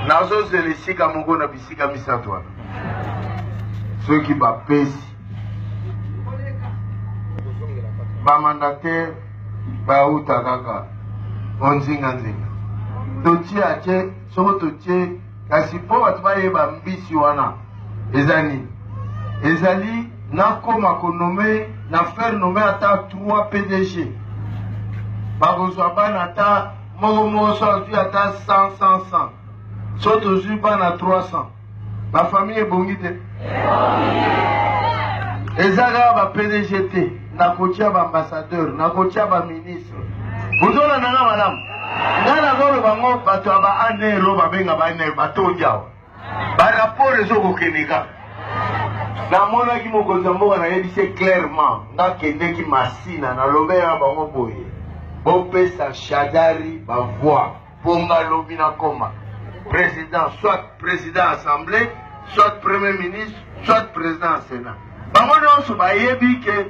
nazozela esika moko na bisika misato wana soki bapesi bamandataire bauta kaka onzinganzinga totie atie soko totie kasi mpo bato bayeba mbisi wana eza nini ezali nakoma konome na faire nome ata 3 pdg bakozwa bana ata moko moko so azwi ata 100 100 100 so tozwi bana 300 bafamille ebongi te eza kaka ba pdg te nakotya baambassadeur nakotya baministre bozolanda na malamu ngai nazoloba ngo bato ya baanero babenga baanero batondi awa Ba rapport ezo kokende kaka. Namonaki mokonzi ya mboka nayebisi ye clairement nakendeki Masina nalobeli na bango boye bopesa Shadari ba voix mpo nga lobi nakoma président soit président assemblée soit premier ministre soit président ya Sénat bango nyonso bayebi ke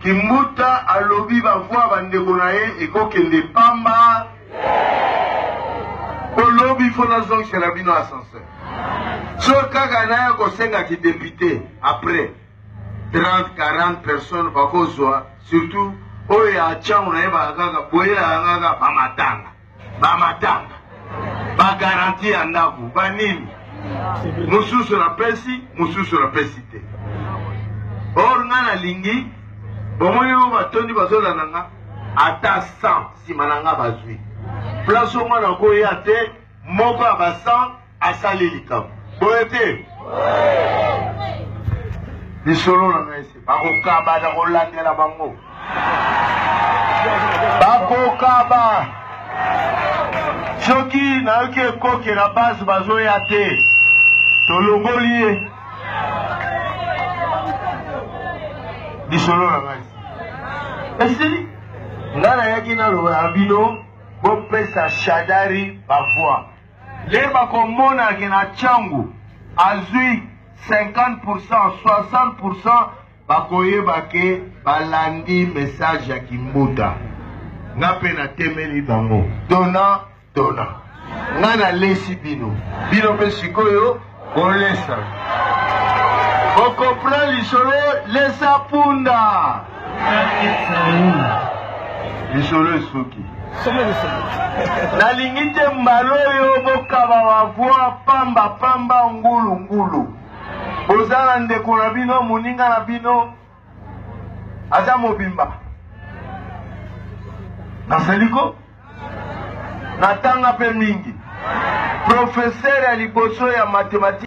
Kimbuta alobi ba voix ya ba ndeko na ye eko kende pamba po lobi faut na zongisela bino ascenseur. So kaka naya kosenga ki depute après 30 40 personnes bakozwa surtout oyo ya changu nayebaka kaka boyelaka kaka ba matanga. bamatanga bagaranti ya ndako banini mosusu napesi mosusu napesi te or nga nalingi bomoni yo batondi bazolanda nga ata 100 nsima na nga bazwi place onga nakoya te moko ya ba 100 asali likambo boye te lisolo na ngai se bakokaba na kolandela bango bakokaba soki nayoki ekoke na base bazoya te tolongoli ye lisolo na ngai esili ngai nayaki naloba na bino bopesa shadari bavoi Lelo bakomona ke na Tshangu azui 50%, 60%, bakoyeba ke balandi message ya Kimbuta. Nga pe natemeli bango. Dona, dona. Nga nalesi bino. Bino pe sikoyo Bolesa. Bokopra lisolo lesa punda. Lisolo esuki. nalingi te mbala oyo bokaba bavwa pamba pamba ngulu ngulu boza na ndeko na bino moninga na bino aza mobimba naseliko natanga mpe mingi profesere ya liboso ya matematike